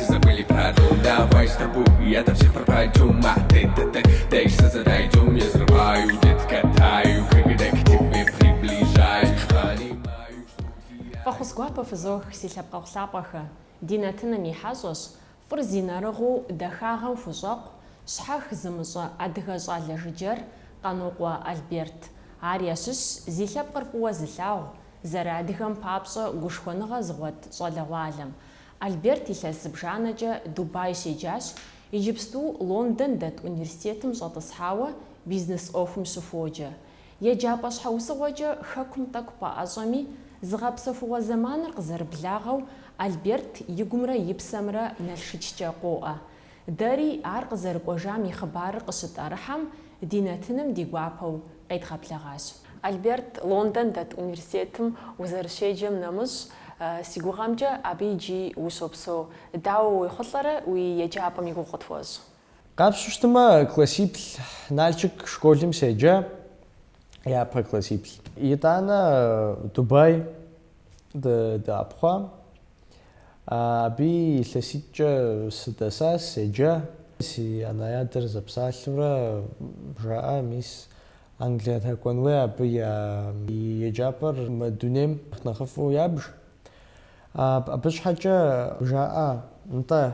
Забыли про дом, давай с тобой Я там всех пропадем, а ты, ты, ты Дальше задойдем, я взрываю, детка, таю Когда к тебе приближаюсь, понимаю, что теряю Фӏэхъус гуапэ фызох, си лъэпкъэгъу лъапӏэхэ! Ди нэтыным и хьэщӏэщ, фӏыр зи нэрыгъыу дахагъэм хущӏэкъу, щхьэх зымыщӏэ адыгэ щӏалэ жыджэр Къанокъуэ Альберт. Ар ящыщщ зи лъэпкъыр фӏыуэ зылъагъу, зэрыадыгэм папщӏэ гушхуэныгъэ зыгъуэт щӏалэгъуалэм. Альберт илъэс зыбжанэкӏэ Дубай щеджащ, иджыпсту Лондон дэт университетым щӏэтӏысхьауэ бизнес ӏуэхум щыхуоджэ. Еджапӏэ щхьэусыгъуэкӏэ Хэкум тӏэкӏу пэӏэщӏэми, зыгъэпсэхугъуэ зэманыр къызэрыблагъэу Альберт игумрэ и псэмрэ Налшыккӏэ къоӏэ. Дэри ар къызэрыкӏуэжам и хъыбарыр къыщытӏэрыхьэм, ди нэтыным ди гуапэу къедгъэблэгъащ. Альберт Лондон дэт университетым узэрыщеджэм нэмыщӏ, си гугъэмкӏэ абы иджы ущопсэу. Дауэ уехъулӏэрэ уи еджапӏэм и гугъу къытхуэщӏ? Къапщу щытмэ, классиплӏ Налшык школым седжа, япэ классиплӏ. Итӏанэ Дубай дыӏэпхъуа, Абы илъэситӏкӏэ сыдэса, седжа. Си анэ-адэр зэпсалъэурэ жаӏа, мис, Англия дгъэкӏуэн хуей, абы я еджапӏэр мы дунейм нэхъыфӏу ябж. Абы щхьэкӏэ жаӏа, нтӏэ,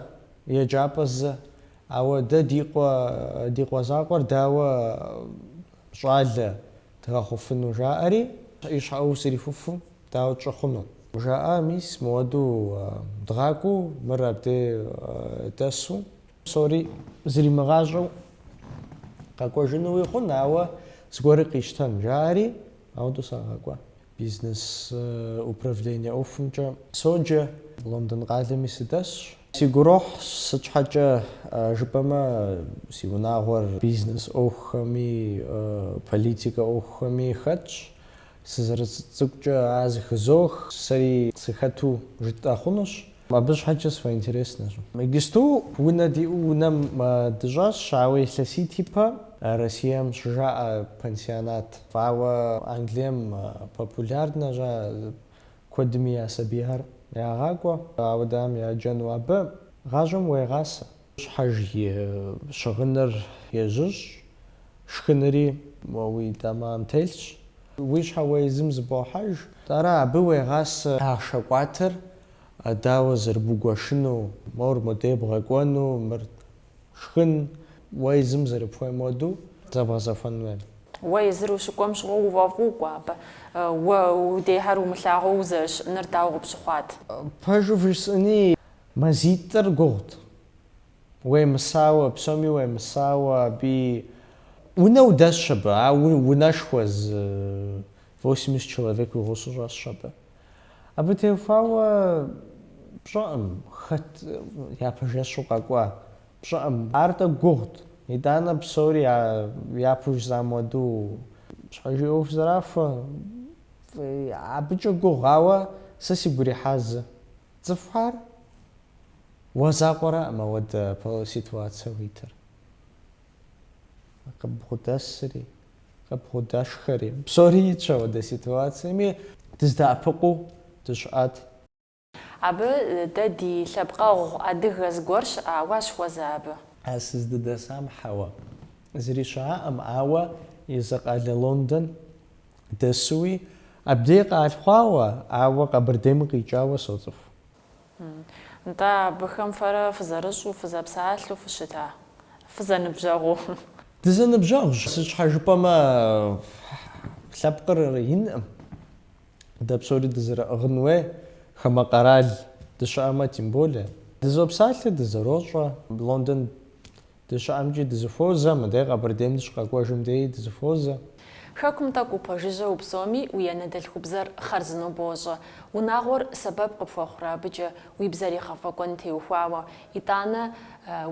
еджапӏэ зы, ауэ дэ ди къуэ, ди къуэ закъуэр дауэ щӏалэ? Дгъэхъуфыну, жаӏэри, и щхьэ ӏуэху зэрихуэфу, дауэ тщӏы хъуну? Жаӏэ, мис, мыуэду дгъакӏуэу, мыр абде дэсу, псори зримыгъащӏэу къэкӏуэжынуи хъун, ауэ зыгуэрыр къищтэн, жаӏэри, ауэду сагъэкӏуа. Бизнес управление ӏуэхумкӏэ соджэ. Лондон къалэми сыдэсщ. Си гурохь, сыт щхьэкӏэ жыпӏэмэ, си унагъуэр бизнес ӏуэхухэми, политикэ ӏуэхухэми хэтщ. Сызэрыцӏыкӏукӏэ ар зыхызох. Сэри сыхэту жытӏэ хъунущ. Абы щхьэкӏэ сфӏэинтереснэщ. Иджысту унэ диӏэу унэм дыщӏэсщ, ауэ илъэситӏ ипэ Россием щыжаӏэ пансионат. Ауэ Англием популярнэщ ар, куэдми я сабийхэр ягъакӏуэ, ауэдэхьэм яджэну абы гъащӏэм уегъасэ. Щхьэж и щыгъыныр ежьыщӏ, шхынри уи дамэм телъщ. Уи щхьэ уэ езым зыбохьэж. Ара абы уегъасэ ахъшэ къуатар, дауэ зэрыбугуэшыну, мор модей бгъэкӏуэну, мыр шхын, уэ езым зэрыпхуейм уэду зэбгъэзэхуэн хуей. Уэ езыр ущыкӏуэм щыгъуэ уфӏэфӏу укӏуа абы? Уэ удейхэр умылъагъуу узэрыщыӏэныр дауэ къыпщыхъуат? Пэжу вжесӏэни, Мазитӏыр гугъут. Уемысауэ, псоми уемысауэ аби. Унэ удэсщ абы, а унэшхуэ зы восемьдесят человек уи гъусэу щӏэсщ абы. Абы теухуауэ пщӏэӏым хэт япэ жэщу къэкӏуа, пщӏэӏым. Ар-тӏэ гугъут. Итӏанэ псори япэу жызам хуэдэу щхьэж и ӏуэху зэрахуэ. Абыкӏэ гугъу, ауэ сэ сигу ирихьа зы. Цӏыхухэр уэ закъуэрэкъым ауэдэ ситуацэ уитыр. Къыбгъудэсри, къыбгъудэшхэри, псори итщ ауэдэ ситуацэми, дыздэӏэпыкъуу дыщыӏат. Абы дэ ди лъэпкъэгъу адыгэ зыгуэр щыӏа, уащыхуэза абы? А сыздыдэсам хьэуэ зыри щыӏакъым, ауэ езы къалэ Лондон дэсуи, абдей къалъхъуауэ, ауэ Къэбэрдейм къикӏауэ соцӏыху. Нтӏэ, абыхэм фэрэ фызэрыщӏу, фызэпсалъэу фыщыта? Фызэныбжьэгъуу. Дызэныбжьэгъущ, сыт щхьэ жыпӏэмэ, лъэпкъыр инкъым, дэ псори дызэрыӏыгъын хуей хамэ къэрал дыщыӏэмэ, тем более. Дызопсалъэ, дызэрощӏэ, Лондон дыщыӏэмкӏи дызыхуозэ, мыдэ Къэбэрдейм дыщыкъэкӏуэжым деи дызыхуозэ. Хэкум тӏэкӏу упэжыжьэу упсэуми уи анэдэлъхубзэр хъарзынэу бощӏэ. Унагъуэр сэбэп къыпхуэхъурэ абыкӏэ уи бзэр игъэфӏэкӏуэн теухуауэ, итӏанэ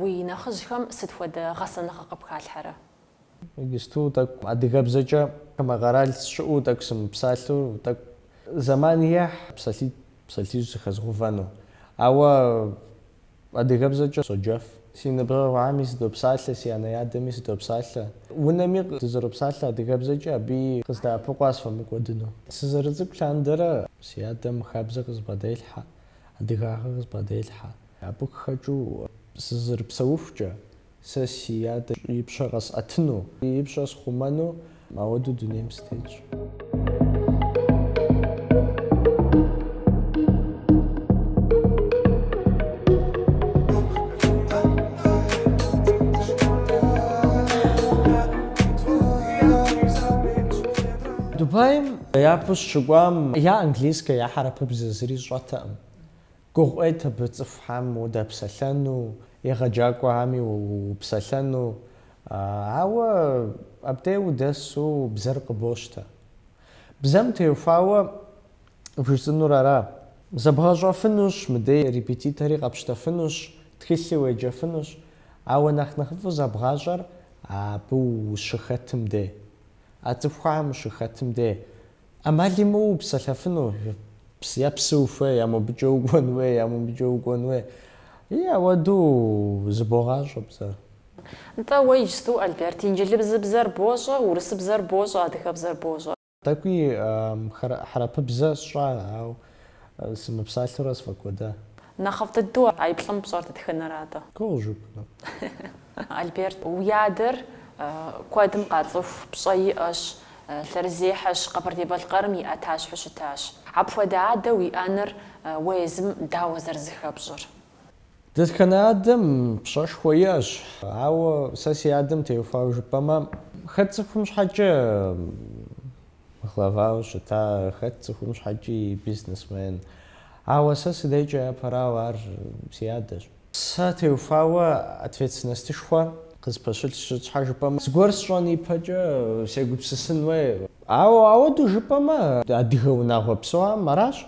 уи нэхъыжьхэм сыт хуэдэ гъэсэныгъэ къыпхалъхьэрэ? Иджысту тӏэкӏу адыгэбзэкӏэ хамэ къэрал сщыӏэу тӏэкӏу сымыпсалъэу, тӏэкӏу зэман ехь псалъитӏ, псалъищ зыхэзгъэувэну. Ауэ. Адыгэбзэкӏэ соджэф. Си ныбжьэгъухэми сыдопсалъэ, си анэ-адэми сыдопсалъэ. Унэми дызэропсалъэ адыгэбзэкӏэ, абыи къыздэӏэпыкъуа сфӏэмыкӏуэдыну. Сызэрыцӏыкӏу лъандэрэ си адэм хабзэ къызбгъэделъхьэ, адыгагъэ къызбгъэделъхьэ. Абы къыхэкӏыу сызэрыпсэухукӏэ, Сэ си адэ и пщэ къэсӏэтыну. И пщӏэ схъумэну. Мауэдэу дунейм сытетщ. Дубаим япэу сыщыкӏуам я английскэ, я хьэрэпыбзэ зыри сщӏэтэкъым. Гугъу ӏейт абы цӏыхухэм удэпсэлъэну, егъэджакӏуэхэми уепсэлъэну, ауэ абдей удэсу бзэр къыбощтэ. Бзэм теухуауэ бжесӏэнур аращ. Зэбгъэщӏэфынущ, мыдей репетитори къэпщтэфынущ, тхылъи уеджэфынущ, ауэ нэхъ нэхъыфӏу зэбгъащӏэр абы ущыхэтым де, а цӏыхухэм ущыхэтым де ӏэмал имыӏэу упсэлъэфыну, я псы ухуей, я мобыкӏэ укӏуэн хуей, я мобыкӏэ укӏуэн хуей, и ауэду зыбогъащӏэ бзэр. Нтӏэ, уэ иджысту, Альберт, инджылызыбзэр бощӏэ, урысыбзэр бощӏэ, адыгэбзэр бощӏэ. Тӏэкӏуи хьэрэпыбзэ сщӏа, ауэ Сымыпсалъэурэ сфӏэкӏуэда. Нэхъыфӏ дыдэу а и плӏым пщӏэр дэтхэнэр атӏэ? Гугъу жыпӏэну. Альберт, уи адэр куэдым къацӏыху, пщӏэ иӏэщ, лъэрызехьэщ, Къэбэрдей-Балъкъэрым и ӏэтащхьэу щытащ. Апхуэдэ адэ уиӏэныр уэ езым дауэ зэрызыхэпщӏыр? Дэтхэнэ адэм пщӏэшхуэ иӏэщ, ауэ сэ си адэм теухуауэ жыпӏэмэ, хэт цӏыхум щхьэкӏэ Главауэ щыта, хэт цӏыхум щхьэкӏи бизнесмен. Ауэ сэ си дейкӏэ япэрауэ ар си адэщ. Сэ теухуауэ ответственностышхуэ къызпэщылъщ, сыт щхьэ жыпӏэмэ зыгуэр сщӏэн ипэкӏэ сегупсысын хуей. Ауэ ауэду жыпӏэмэ, адыгэ унагъуэ псоам аращ,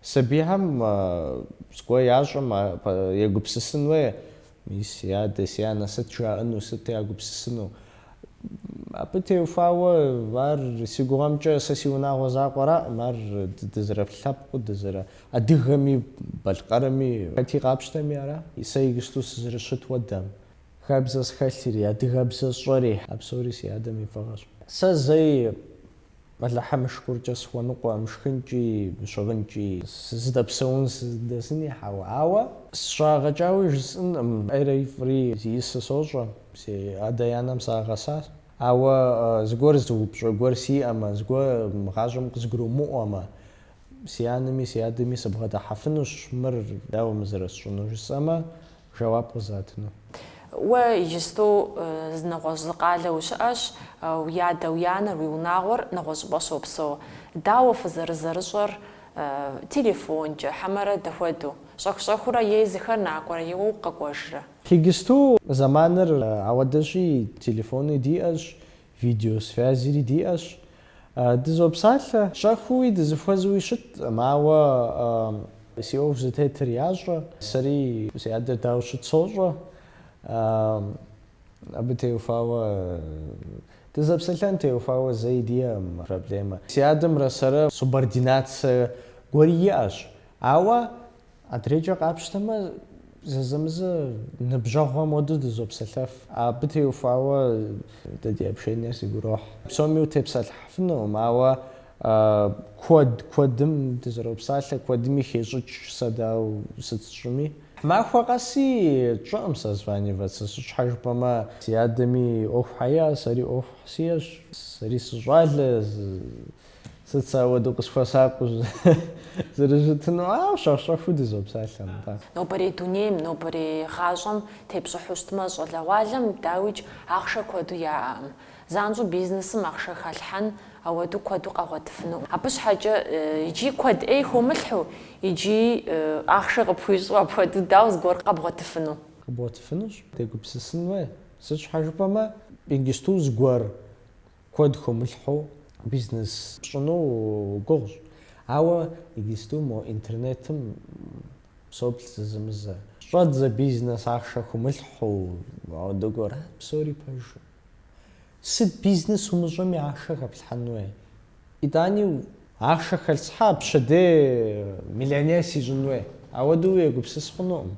сабийхэм зыгуэр ящӏэм егупсысын хуей, Мис си адэ, си анэ сыт жаӏэну, сыт ягупсысыну? Абы теухуауэ, ар си гугъэмкӏэ сэ си унагъуэ закъуэраӏым, ар дызэрылъэпкъыу, дызэрыадыгэми, балъкъэрми, хэти къапщтэми ара. Сэ игысту сызэрыщыт хуэдэм, Хабзэ схэлъри, адыгэбзэ сщӏэри, а псори си адэм и фӏыгъэщ. Сэ зэи Алыхьым и шыкуркӏэ, сыхуэныкъуэӏым шхынкӏи, щыгъынкӏи. Сыздэпсэун сыздэсыни хьэуэ. Ауэ сыщагъэкӏауи жысӏынкъым, ӏейри фӏыри зиӏысыр сощӏэ. Си адэ-анэм сагъэсащ. Ауэ зыгуэр зы упщӏэ гуэр сиӏэмэ, зыгуэр мы гъащӏэм къызгурымыӏуэмэ, си анэми си адэми сыбгъэдыхьэфынущ, мыр дауэ мы зэрысщӏынур жысӏэмэ, Жэуап къызатыну. Уэ иджысту зы нэгъуэщӏ зы къалэ ущыӏэщ, уи адэ, уи анэр, уи унагъуэр нэгъуэщӏ щӏыпӏэ щопсэу. Дауэ фызэрызэрыщӏэр? Телефонкӏэ, хьэмэрэ дапхуэдэу? Щӏэх-щӏэхыурэ е езыхэр накӏуэрэ е уэ укъэкӏуэжрэ? Иджысту зэманыр ауэдэщи, телефони диӏэщ, Видеосвязри диӏэщ. Дызопсалъэ. Щӏэхыуи дызыхуэзууи щыткъым, ауэ си ӏуэху зытетыр ящӏэ. Сэри си адэр дауэ щыт сощӏэ. Абы теухуауэ, дызэпсэлъэн теухуауэ зэи диӏэкъым проблемэ. Си адэмрэ сэрэ субординацэ гуэри иӏэщ, ауэ Адрейкӏэ къапщтэмэ, зэзэмызэ ныбжьэгъухэм уэду дызопсэлъэф. Абы теухуауэ дэ ди общениер сигу ирохь. Псоми утепсэлъыхьыфынукъым, ауэ куэд куэдым дызэропсалъэ, куэдми хещӏыкӏ сэ дауэ сыт сщӏыми. Махуэ къэси тщӏыӏым созваниваться, сыт щхьэ жыпӏэмэ, си адэми ӏуэхухэ иӏэ, сэри ӏуэхухэ сиӏэщ. Сэри сыщӏалэ. Сыт сэ ауэдэу къысхуэсакъыу зэрыжытыну, ауэ щӏэх-щӏэхыу дызопсалъэ, нтӏэ. Нобэрей дунейм, нобэрей гъащӏэм тепщӏыхьу щытмэ, щӏалэгъуалэм, дауикӏ, ахъшэ куэду яӏэкъым. Занщӏэу бизнесым ахъшэ халъхьэн ауэдэу куэду къагъуэтыфынукъым. Абы щхьэкӏэ иджыи куэд ӏей хумылъхьэу, иджыи ахъшэ къыпхуищӏу апхуэдэу дауэ зыгуэр къэбгъуэтыфыну? Къэбгъуэтыфынущ, дегупсысын хуей. Сыт щхьэ жыпӏэмэ, иджысту зыгуэр Куэд хумылъхьэу бизнес пщӏыну гугъущ. Ауэ иджысту мо интернетым соплъ зэзэмызэ. Щӏэдзэ бизнес ахъшэ хумылъхьэу ауэдэ гуэра псори пэжу. Сыт бизнес умыщӏэми ахъшэ хэплъхьэн уей. Итӏани. Ахъшэ хэлъсхьа пщэдей миллионер сищӏын уей. Ауэдэу уегупсыс хъунукъым.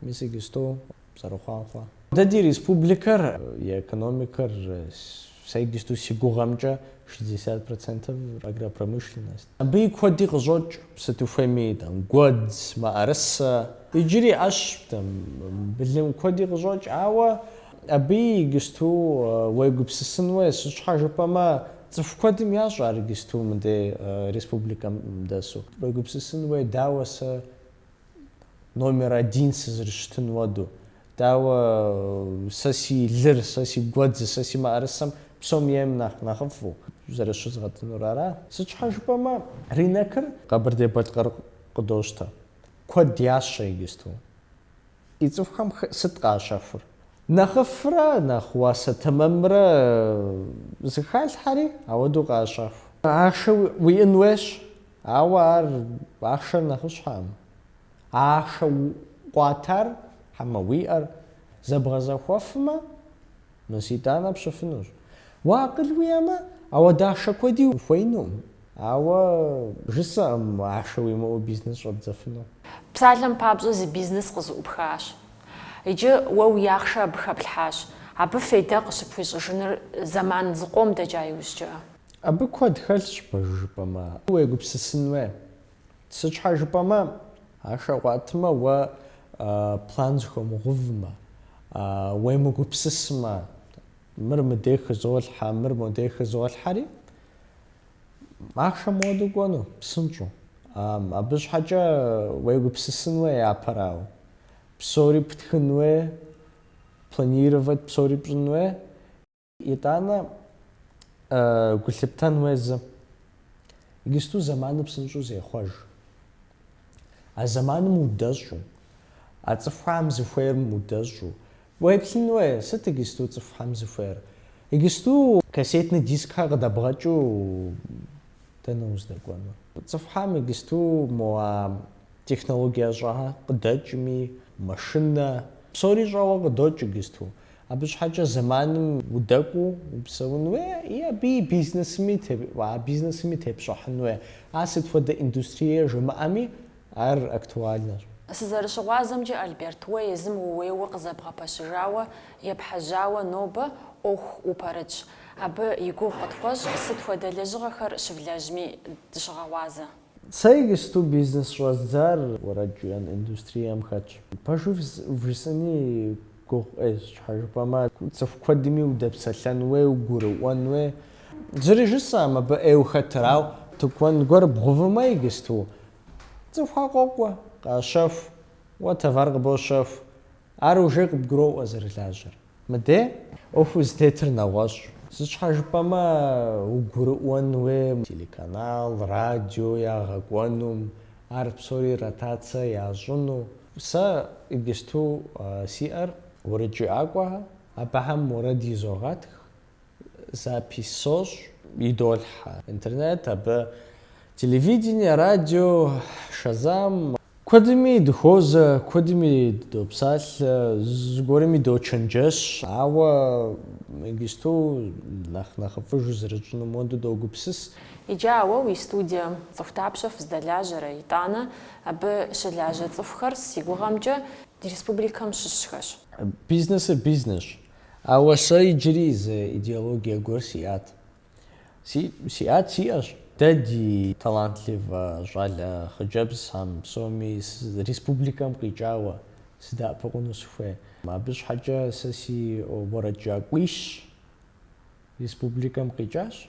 Мис иджысту зэрыхъуам хъуа? Дэ ди республикэр и экономикэр, сэ иджысту си гугъэмкӏэ, шестьдесят процентов агропромышленность. Абыи куэди къыщӏокӏ, сыт ухуейми, там, гуэдз, мыӏэрысэ. Иджыри ӏэщ, там, былым куэди къыщӏокӏ, ауэ абыи иджысту уегупсысын уей, сыт щхьэ жыпӏэмэ, цӏыху куэдым ящӏ ар иджысту мыдей республикэм дэсу. Уегупсысын уей, дауэ сэ номер один сызэрыщытыну ауэду. Дауэ сэ си лыр, сэ си гуэдз, сэ си мыӏэрысэм псом ейм нэхъ нэхъыфӏу зэрыщызгъэтынур ара? Сыт щхьэ жыпӏэмэ, рынокыр Къэбэрдей-Балъкъэр къыдощтэ. Куэд ящэ иджысту. И цӏыхухэм сыт къащэхур? Нэхъыфӏрэ нэхъ уасэ тэмэмрэ зэхалъхьэри ауэду къащэху. Ахъшэ уиӏын уейщ. Ауэ ар ахъшэр нэхъыщхьэкъым. А ахъшэ къуатар, хьэмэ уиӏэр зэбгъэзэхуэфмэ, мис итӏанэ пщӏыфынущ. Уэ акъыл уиӏэмэ, ауэдэ ахъшэ куэди ухуеинукъым. Ауэ жысӏэкъым ахъшэ уимыӏэу бизнес щӏэбдзэфыну. Псалъэм папщӏэ зы бизнес къызэӏупхащ. Иджы уэ уи ахъшэ абы хэплъхьащ. Абы фейдэ къыщыпхуищӏыжыныр зэман зыкъом дэкӏа иужькӏэ. Абы куэд хэлъщ, пэж жыпӏэмэ. Уегупсысын уей. Сыт щхьэ жыпӏэмэ, ахъшэ къуатмэ, уэ план зыхуумыгъэувмэ, уемыгупсысмэ, мыр мыдей хызолъхьэ, мыр модей хызолъхьэри, ахъшэ моуэду кӏуэну, псынщӏэу. Абы щхьэкӏэ уегупсысын уей япэрауэ. Псори птхын уей, планировать псори пщӏын уей. Итӏанэ, гу лъыптэн уей зы, иджысту зэманыр псынщӏэу зехъуэж. А зэманым удэщӏу, а цӏыхухэм зыхуейм удэщӏу, уеплъын уей, сыт иджысту цӏыхухэм зыхуейр? Иджысту кассетный дискхэр къыдэбгъэкӏыу дэнэ уздэкӏуэнур? Цӏыхухэм иджысту мо а технологие щӏэхэр къыдэкӏми, машинэ, псори щӏэуэ къыдокӏ иджысту. Абы щхьэкӏэ зэманым удэкӏуу упсэун уей, и абы и бизнесми, а бизнесми тепщӏыхьын уей. А сыт хуэдэ индустрие жумыӏэми, ар актуальнэщ. Сызэрыщыгъуазэмкӏэ, Альберт, уэ езым ууейуэ къызэбгъэпэщыжауэ, епхьэжьауэ нобэ ӏуэху упэрытщ. Абы и гугъу къытхуэщӏ, сыт хуэдэ лэжьыгъэхэр щывлэжьми дыщыгъэгъуазэ. Сэ иджысту бизнес щӏэздзар уэрэд жыӏэн индустрием хэтщ. Пэжу вжысӏэни гугъу ӏейщ, щхьэ жыпӏэмэ цӏыху куэдми удэпсэлъэн уей, угурыӏуэн уей. Зыри жысӏэм, абы ӏейуэ хэтыр, ауэ тыкуэн гуэр бгъувымэ иджысту цӏыхухэр къокӏуэ, къащэху, уэ товар къыбощэху, ар уже къыбгуроӏуэ зэрылажьэр. Мыдей ӏуэху зытетыр нэгъуэщӏщ. Сыт щхьэ жыпӏэмэ, угурыӏуэн уей телеканал, радио ягъэкӏуэнум, ар псори ротацэ ящӏыну. Сэ иджысту сиӏэр уэрэджыӏакӏуэхэ, абыхэм уэрэд изогъэтх, Запись сощӏ, идолъхьэ интернет, абы телевидение, радио, шазам. Куэдми дыхуозэ, куэдми дыдопсалъэ, зыгуэрми дочэнджэщ. Ауэ иджысту нэхъ нэхъыфӏыжу зэрытщӏыну моду догупсыс. Иджы а уэ уи студием цӏыху тапщэ фыздэлажьэрэ, итӏанэ абы щылажьэ цӏыхухэр си гугъэмкӏэ ди республикэм щыщхэщ. Бизнесыр бизнесщ. Ауэ сэ иджыри зы идеологие гуэр сиӏат. Си, сиӏат, сиӏэщ. Дэ ди талантливэ щӏалэ хъыджэбзхэм псоми республикэм къикӏауэ сыдэӏэпыкъуну сыхуей. Абы щхьэкӏэ сэ си уэрэджыӏакӏуищ республикэм къикӏащ,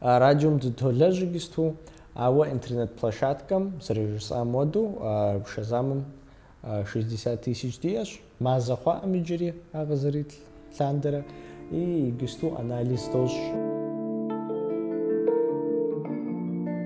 Радиом дытолэжь иджысту, ауэ интернет-площадкэм, зэрыжысӏам уэду, Шазамым шестьдесят тысяч диӏэщ. Мазэ хъуакъым иджыри ар къызэрит лъандэрэ, и иджысту анализ дощӏ.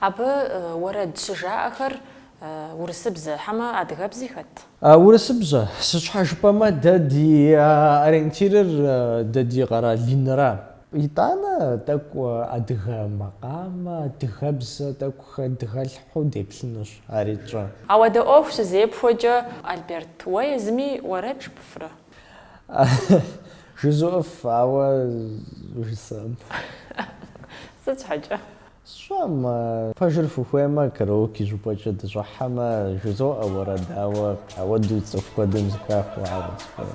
Абы уэрэд щыжаӏэхэр урысыбзэ, хьэмэ адыгэбзи хэт? Урысыбзэ. Сыт щхьэ жыпӏэмэ, дэ ди ориентирыр дэ ди къэрал инра. Итӏанэ тӏэкӏу адыгэ макъамэ, адыгэбзэ тӏэкӏу хэдгалъхьэу деплъынущ, ари тщӏэ. Ауэдэ ӏуэху щызепхуэкӏэ, Альберт, уэ езыми уэрэд жыпӏэфрэ? Жызуӏыф, ауэ жысӏэм. Сыт щхьэкӏэ? Сщӏэм, пэжыр фыхуеймэ, караоке щӏыпӏэкӏэ дыщӏыхьэмэ, жызоӏэ уэрэд, ауэ, ауэ дуи цӏыху куэдым зыхахыу, ауэ цӏыхуи.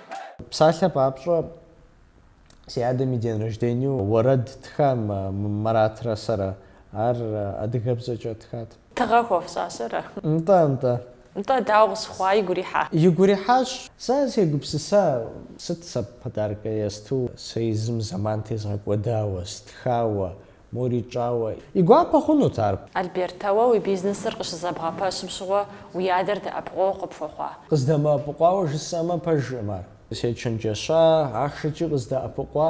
Псалъэ папщӏэ, си адэм и день рождению уэрэд ттха Маратрэ сэрэ. Ар адыгэбзэкӏэ ттхат. Тыгъэ хуэфщӏауэ ара? Нтӏэ, нтӏэ. Нтӏэ, дауэ къыщыхъуа, игу ирихьа? Игу ирихьащ. Сэ сегупсыса, сыт сэ подаркэ есту сэ езым зэман тезгъэкӏуэдауэ, стхауэ, мори тщӏауэ. И гуапэ хъунут ар. Альберт, уэ уи бизнесыр къыщызэбгъэпэщым щыгъуэ уи адэр дэӏэпыкъуэгъу къыпхуэхъуа? Къыздэмыӏэпыкъуауэ жысӏэмэ, пэжкъым ар. Сечэнджэща, ахъшэкӏи къыздэӏэпыкъуа.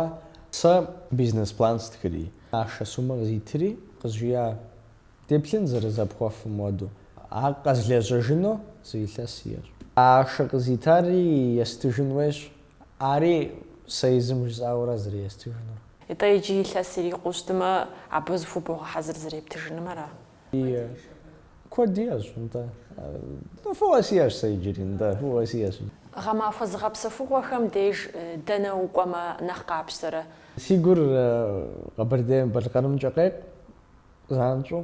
Сэ бизнес-план стхыри, ахъшэ сумэ къызитри, къызжиӏа: деплъын зэрызепхуэфым хуэдэу. Ар къэзлэжьыжыну зы илъэс сиӏэщ. А ахъшэ къызитари естыжын хуейщ, Ари сэ езым жысӏауэ ара зэрестыжынур. Итӏэ иджы илъэс ирикъуу щытымэ, абы зыхубогъэхьэзыр зэрептыжыным, ара? Ие, куэд иӏэщ, нтӏэ. Фӏыуэ сиӏэщ сэ иджыри, нтӏэ, фӏыуэ сиӏэщ. Гъэмахуэ зыгъэпсэхугъуэхэм деж дэнэ укӏуэмэ нэхъ къапщтэрэ? Си гур Къэбэрдей-Балъкъэрымкӏэ къекъу, Занщӏэу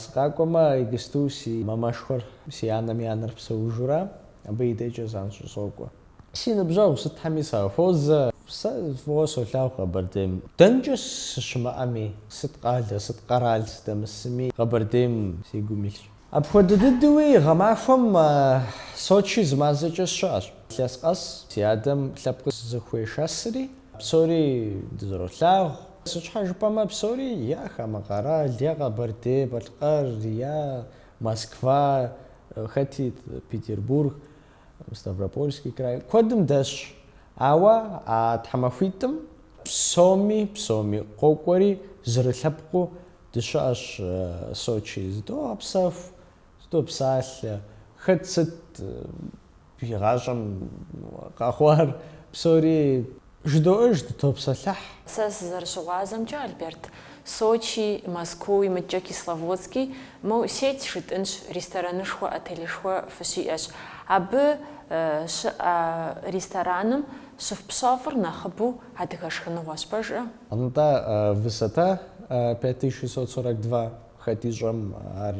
сыкъакӏуэмэ, иджысту си мамэшхуэр, си анэм и анэр псэужурэ, абы и дежкӏэ занщӏэу сокӏуэ. Си ныбжьэгъу сытхэми сахуозэ. Сэ фӏыуэ солъагъу Къэбэрдейм. Дэнкӏэ сыщымыӏэми, сыт къалэ, сыт къэрал сыдэмысми, Къэбэрдейм си гум илъщ. Апхуэдэ дыдэуи гъэмахуэм Сочи зы мазэкӏэ сыщыӏэщ. Илъэс къэс си адэм лъэпкъ зыхуешэсри, псори дызэролъагъу. Сыт щхьэ жыпӏэмэ, псори е хамэ къэрал, е Къэбэрдей-Балъкъэр, е Москва, хэти Петербург, Ставропольский край, куэдым дэсщ. Ауэ а тхьэмахуитӏым псоми, псоми къокӏуэри, зэрылъэпкъыу Дыщыӏэщ Сочи, зыдогъэпсэху, зыдопсалъэ. Хэт сыт и гъащӏэм къэхъуар, псори жыдоӏэж, дытопсэлъыхь. Сэ сызэрыщыгъуазэмкӏэ, Альберт, Сочи, Москуи, мыкӏэ Кисловодски, моу сеть жытӏынщ, ресторанышхуэ, отелышхуэ фыщиӏэщ. Абы щыӏэ рестораным щыфпщэфӏыр нэхъыбэу адыгэ шхыныгъуэщ, пэжкъэ? Нтӏэ, высота пять тысяч шестьсот сорок два, хэт ищӏэм ар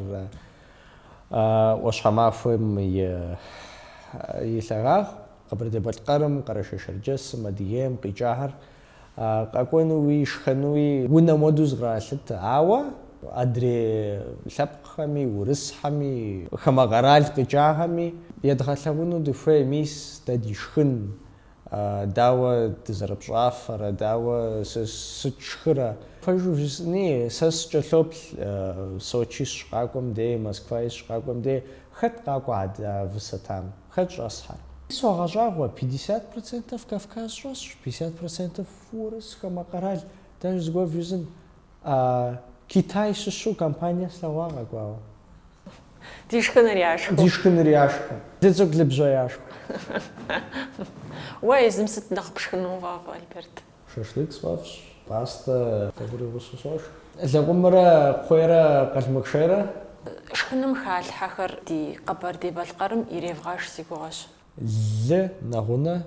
ӏуащхьэмахуэм и лъагагъ, Къэбэрдей-Балъкъэрым, Къэрэшей-Шэрджэсым, Адыгейм къикӏахэр къэкӏуэнуи, шхэнуи унэм уэдэу зыкъралъытэ. Ауэ адрей лъэпкъхэми, урысхэми, хамэ къэрал къикӏахэми едгъэлъэгъуну дыхуей, мис дэ ди шхын Дауэ дызэрыпщӏафэрэ, дауэ сыт тшхырэ? Пэжу жысӏэни, сэ сыкӏэлъоплъ, Сочи сщыкъакӏуэм дей, Москваи сщыкъакӏуэм дей, хэт къакӏуэ адэ а высотам? Хэт щӏэсхэр? Согъэщӏагъуэ, пятьдесят процентов Кавказ щӏэсщ, пятьдесят процентов урыс, хамэ къэрал, даже зыгуэр вжесӏэн, А Китай щыщу компания слъэгъуа къэкӏуауэ? Ди шхыныр яшхыу. Ди шхыныр яшхыу. Лыцӏыкӏулыбжьэ яшхыу. Уэ езым сыт нэхъ пшхыну уфӏэфӏ, Альберт? Шашлык сфӏэфӏщ, пӏастэ къыгурыӏуэу сыщӏошх. Лэкъумрэ кхъуейрэ къалмык шейрэ? Шхыным халъхьэхэр ди Къэбэрдей-Балъкъэрым иревгъэш си гугъэщ. Лы нэгъунэ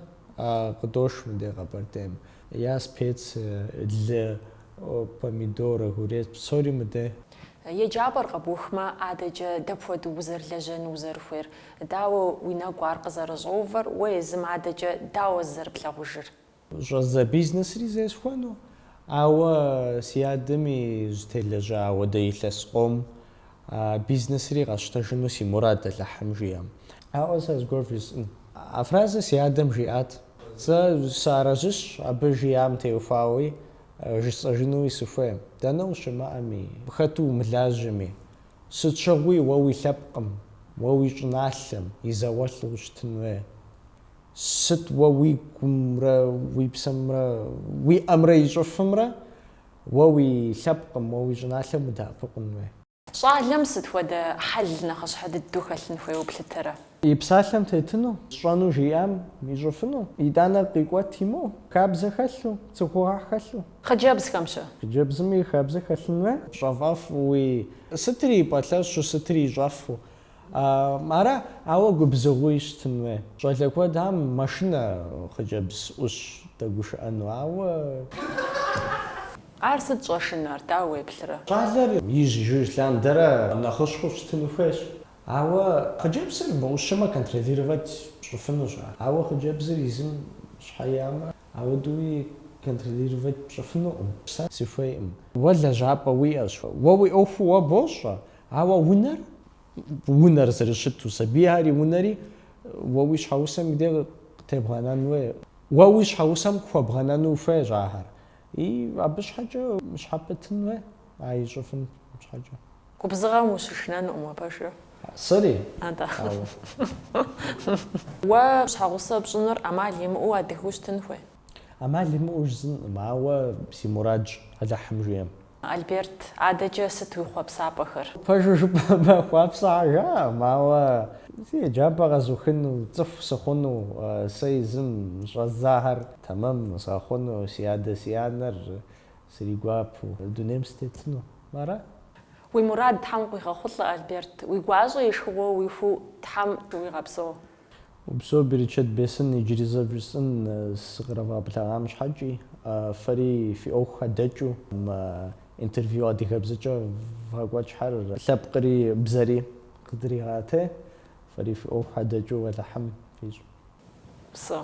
къыдош мы дей Къэбэрдейм. Я специи, лы, помидор, огурец, псори мы дей. Еджапӏэр къэбухмэ, адэкӏэ дапхуэдэу узэрылэжьэну узэрыхуейр? Дауэ уи нэгу ар къызэрыщӏэувэр? Уэ езым адэкӏэ дауэ зызэрыплъагъужыр? Щӏэздза бизнесри зесхуэну, ауэ си адэми зытелэжьа ауэдэ илъэс къом а бизнесри къэсщтэжыну си мурад Алыхьым жиӏэм. Ауэ сэ зыгуэр жысӏэн. А фразэр си адэм жиӏат. Сэ сыарэзыщ абы жиӏам теухуауи, жысӏэжынуи сыхуейм, дэнэ ущымыӏэми, хэту умылажьэми, сыт щыгъуи уэ уи лъэпкъым, уэ уи щӏыналъэм и зауэлӏу ущытын хуей. Сыт уэ уи гумрэ уи псэмрэ уи ӏэмрэ ищӏыфымрэ уэ уи лъэпкъым, уэ уи щӏыналъэм удэӏэпыкъун уей? Щӏалэм сыт хуэдэ хьэл нэхъыщхьэ дыдэу хэлъын хуейуэ плъытэрэ? И псалъэм тетыну, сщӏэну жиӏам ищӏыфыну, итӏанэ къикӏуэт имыӏэу, хабзэ хэлъу, цӏыхугъэ хэлъу. Хъыджэбзхэм-щэ? Хъыджэбзми хабзэ хэлъын хуей? Пщэфӏэфуи сытри пэлъэщу, сытри ищӏэфу, Ара, ауэ губзыгъуи щытын уей. Щӏалэ куэд мэшынэ хъыджэбз ӏущ дэгушыӏэну, ауэ. Ар сыт щӏэшынэр, дауэ уеплърэ? Щӏалэр ижь-ижьыж лъандэрэ нэхъыщхьэу щытын хуейщ. Ауэ хъыджэбзыр мыӏущымэ контролировать пщӏыфынущ ар. Ауэ хъыджэбзыр езым щхьэ иӏэмэ, ауэдууи контролировать пщӏыфынукъым. Сэ сыхуейкъым. Уэ лэжьапӏэ уиӏэщ. Уэ уи ӏуэху уэ бощӏэ, Ауэ унэр, унэр зэрыщыту, сабийхэр и унэри уэ уи щхьэгъусэм и де къытебгъэнэн уей, уэ уи щхьэгъусэм къыхуэбгъэнэну ухуейщ ахэр, и абы щхьэкӏэ щхьэпэтын уей, а ищӏыфын щхьэкӏэ. Губзыгъэм ущышынэнукъым уэ пэжыр. Сэри? Атӏэ. Уэ щхьэгъусэ пщӏыныр ӏэмал имыӏэу адыгэу щытын хуей? ӏэмал имыӏэу жысӏэнкъым, ауэ си мурадщ Алыхьым жиӏэм. Альберт, адэкӏэ сыт уи хъуэпсапӏэхэр? Пэжу жыпӏэмэ, хъуапсагъэ жаӏэм, ауэ си еджапӏэ къэзухыну, цӏыху сыхъуну, сэ езым щӏэздзахэр тэмэм згъэхъуну, си адэ си анэр сригуапу дунейм сытетыну. Ара? Уи мурад Тхьэм къуигъэхъулӏэ, Альберт. Уи гуащӏэ и шхыгъуэ уихуэу Тхьэм уигъэпсэу. Упсэу, берычэт бесын, иджыри зэ вжесӏэн сыкъызэревгъэблэгъам щхьэкӏи. Фэри фи ӏуэху хэдэкӏыу интервью адыгэбзэкӏэ вгъэкӏуэкӏхэр лъэпкъри бзэри къыдригъэтей. Фэри фи ӏуэху хэдэкӏыу Алыхьым фищӏ. Псэу,